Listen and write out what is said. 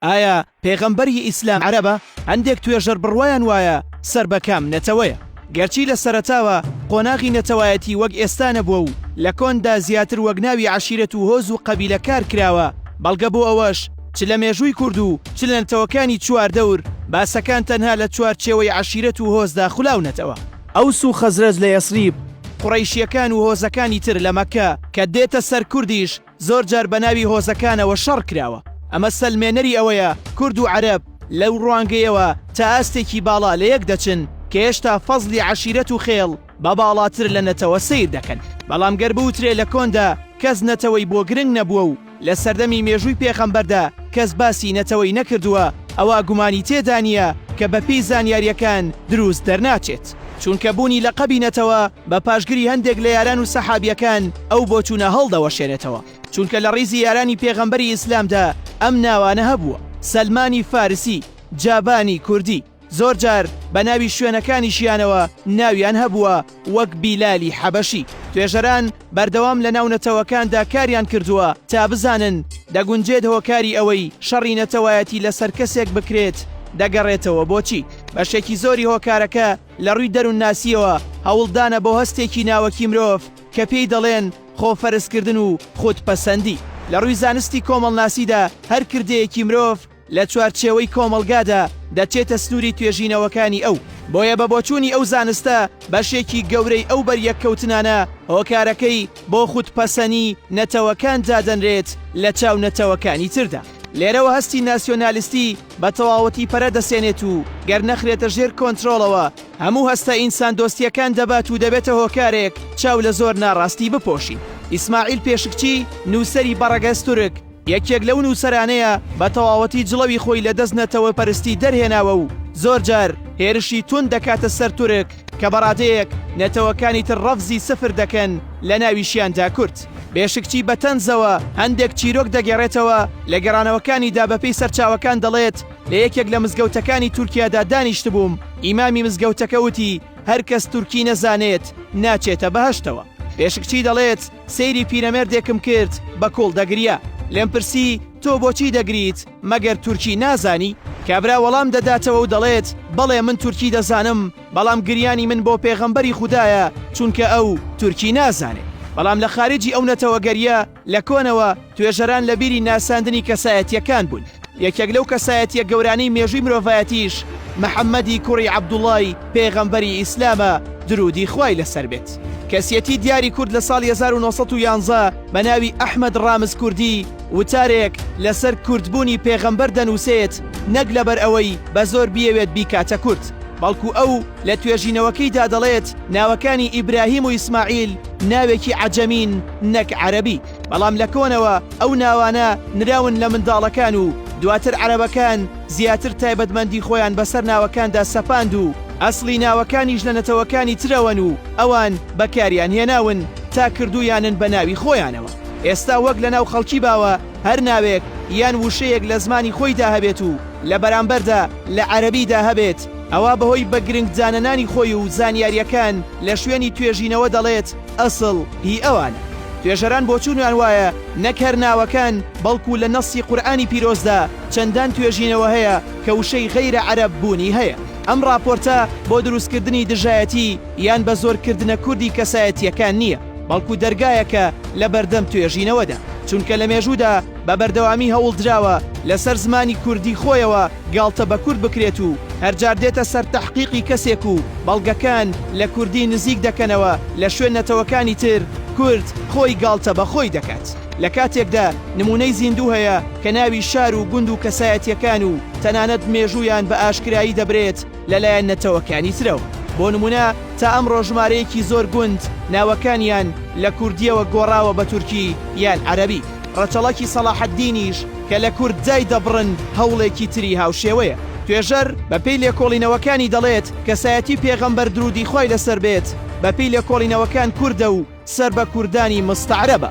ئایا پێغەمبەر ی ئیسلام عەرەبە؟ هەندێک توێژەر بڕوایان وایە سەر بە کام نەتەوەیە. گەرچی لە سەرەتاوە قۆناغی نەتەوایەتی وەک ئێستا نەبووە و لە کۆندا زیاتر وەک ناوی عەشیرەت و هۆز و قەبیلە کار کراوە، بەڵگە بۆ ئەوەش چ لە مێژووی کورد و چ لە نەتەوەکانی چواردەور، باسەکان تەنها لە چوارچێوەی عەشیرەت و هۆزدا خولاونەتەوە. ئەوس و خەزرەج لە یەسریب، قوڕەیشییەکان و هۆزەکانی تر لە مەککە کە دێتە سەر کوردیش، زۆر جار بە ناوی هۆزەکانەوە شەڕ کراوە، ئەمە سەلمێنەری ئەوەیە کورد و عەرەب لەو ڕوانگەیەوە تا ئاستێکی باڵا لە یەک دەچن کە هێشتا فەزڵی عەشیرەت و خێڵ بە باڵاتر لە نەتەوە سەیر دەکەن. بەڵام گەر بوترێ لە کۆندا کەس نەتەوەی بۆ گرنگ نەبووە و لە سەردەمی مێژووی پێخەمبەردا کەس باسی نەتەوەی نەکردووە ئەوا گومانی تێدا نییە کە بە پێی زانیارییەکان دروست دەرناچێت. چونکە بوونی لەقەبی نەتەوە بە پاشگری هەندێک لە یاران و سەحابیەکان ئەو بۆچوونە هەڵدەوەشێنێتەوە، چونکە لە ڕیزی یارانی پێغەمبەری ئیسلامدا ئەم ناوانە هەبووە، سەلمانی فارسی، جابانی کوردی، زۆرجار بە ناوی شوێنەکانیشیانەوە ناویان هەبووە وەک بیلالی حەبەشی، توێژەران بەردەوام لەناو نەتەوەکاندا کاریان کردووە تا بزانن دەگونجێت هۆکاری ئەوەی شەڕی نەتەوایەتی لەسەر کەسێک بکرێت دەگەڕێتەوە بۆ چی؟ بەشێکی زۆری هۆکارەکە لە ڕووی دەروونناسییەوە هەوڵدانە بۆ هەستێکی ناوەکی مرۆڤ کە پێی دەڵێن خۆفەرزکردن و خودپەسەندی. لە ڕووی زانستی کۆمەڵناسیدا هەر کردەیەکی مرۆڤ، لە چوارچێوەی کۆمەڵگادا دەچێتە سنووری توێژینەوەکانی ئەو، بۆیە بە بۆچوونی ئەو زانستە بەشێکی گەورەی ئەو بەریەککەوتنانە هۆکارەکەی بۆ خودپەسەنی نەتەوەکان دادەنرێت لە چاو نەتەوەکانی تردا. لێرەوە هەستی ناسیۆنالیستی بە تەواوەتی پەرە دەسێنێت و گەر نەخرێتە ژێر کۆنترۆڵەوە هەموو هەستە ئینساندۆستییەکان دەبات و دەبێتە هۆکارێک چاو لە زۆر ناڕاستی بپۆشین. ئیسماعیل پێشکچی، نووسەری بەڕەگەز تورک، یەکێک لەو نووسەرانەیە بە تەواوەتی جڵەوی خۆی لە دەست نەتەوەپەرستی دەرهێناوە و زۆرجار هێرشی توند دەکاتە سەر تورک کە بە ڕادەیەک نەتەوەکانی تر ڕەفزی سفر دەکەن لە ناویشیاندا کورد. بێشکچی بە تەنزەوە هەندێک چیرۆک دەگێڕێتەوە، لە گێڕانەوەکانیدا بەپێی سەرچاوەکان دەڵێت، لە یەکێک لە مزگەوتەکانی تورکیادا دانیشتبووم، ئیمامی مزگەوتەکە وتی، هەرکەس تورکی نەزانێت ناچێتە بەهەشتەوە. بێشکچی دەڵێت، سەیری پیرەمێردێکم کرد بە کوڵ دەگریا لێم پرسی تۆ بۆچی دەگریت مەگەر تورکی نازانی؟ کابرا وەڵام دەداتەوە و دەڵێت بەڵێ من تورکی دەزانم بەڵام گریانی من بۆ پێغەمبەری خودایە چونکە ئەو تورکی نازانێ بەڵام لە خاریجی ئەو نەتەوەگەریە لە کۆنەوە توێژەران لە بیری ناساندنی کەسایەتییەکان بوون، یەکێک لەو کەسایەتییە گەورانەی مێژووی مرۆڤایەتیش محەممەدی کوڕی عەبدوڵڵای پێغەمبەری ئیسلامە دروودی خوای لەسەر بێت. کەسیەتی دیاری کورد لە ساڵی هەزار و نۆ سەد و یازدە بە ناوی ئەحمەد ڕامز کوردی وتارێک لەسەر کوردبوونی پێغەمبەر دەنووسێت نەک لەبەر ئەوەی بە زۆر بیەوێت بیکاتە کورد بەڵکو ئەو لە توێژینەوەکەیدا دەڵێت ناوەکانی ئیبراهیم و ئیسماعیل ناوێکی عەجەمین نەک عەرەبی. بەڵام لە کۆنەوە ئەو ناوانە نراون لە منداڵەکان و دواتر عەرەبەکان زیاتر تایبەتمەندی خۆیان بەسەر ناوەکاندا سەپاند و ئەسڵی ناوەکانیش لە نەتەوەکانی ترەوەن و ئەوان بەکاریان هێناون تا کردوویانن بە ناوی خۆیانەوە. ئێستا وەک لەناو خەڵکی باوە هەر ناوێک یان وشەیەک لە زمانی خۆیدا هەبێت و لە بەرامبەردا لە عەرەبیدا هەبێت ئەوا بەهۆی بە گرنگ دانەنانی خۆی و زانیارییەکان لە شوێنی توێژینەوە دەڵێت ئەسڵ هی ئەوانە. توێژەران بۆچوونیان وایە نەک هەر ناوەکان بەڵکوو لە نەسی قورئانی پیرۆزدا چەندان توێژینەوە هەیە کە وشەی غەیرە عەرەب بوونی هەیە. ئەم ڕاپۆرتە بۆ دروستکردنی دژایەتی یان بە زۆر کردنە کوردی کەسایەتییەکان نییە، بەڵکوو دەرگایەکە لە بەردەم توێژینەوەدا. چونکە لە مێژوودا بە بەردەوامی هەوڵدراوە لە سەر زمانی کوردی خۆیەوە، گاڵتە بە کورد بکرێت و هەر جار دێتە سەر تەحقیقی کەسێک و بەڵگەکان لە کوردی نزیک دەکەنەوە لە شوێن نەتەوەکانی تر، کورد خۆی گاڵتە بە خۆی دەکات لە کاتێکدا نموونەی زیندوو هەیە کە ناوی شار و گوند و کەسایەتیەکان و تەنانەت مێژوویان بە ئاشکرایی دەبرێت، لەلایەن نەتەوەکانی ترەوە. بۆ نموونە تا ئەمڕۆ ژمارەیەکی زۆر گوند ناوەکانیان لە کوردییەوە گۆڕاوە بە تورکی یان عەرەبی. ڕەچەڵەکی سەڵاحەددینیش کە لە کورد دای دەبڕن هەوڵێکی تری هاوشێوەیە. توێژەر بە پێی لێکۆڵینەوەکانی دەڵێت کەسایەتی پێغەمبەر درودی خوای لەسەر بێت بە پێی لێکۆڵینەوەکان کوردە و، سەر بە کوردانی مستەعرەبە.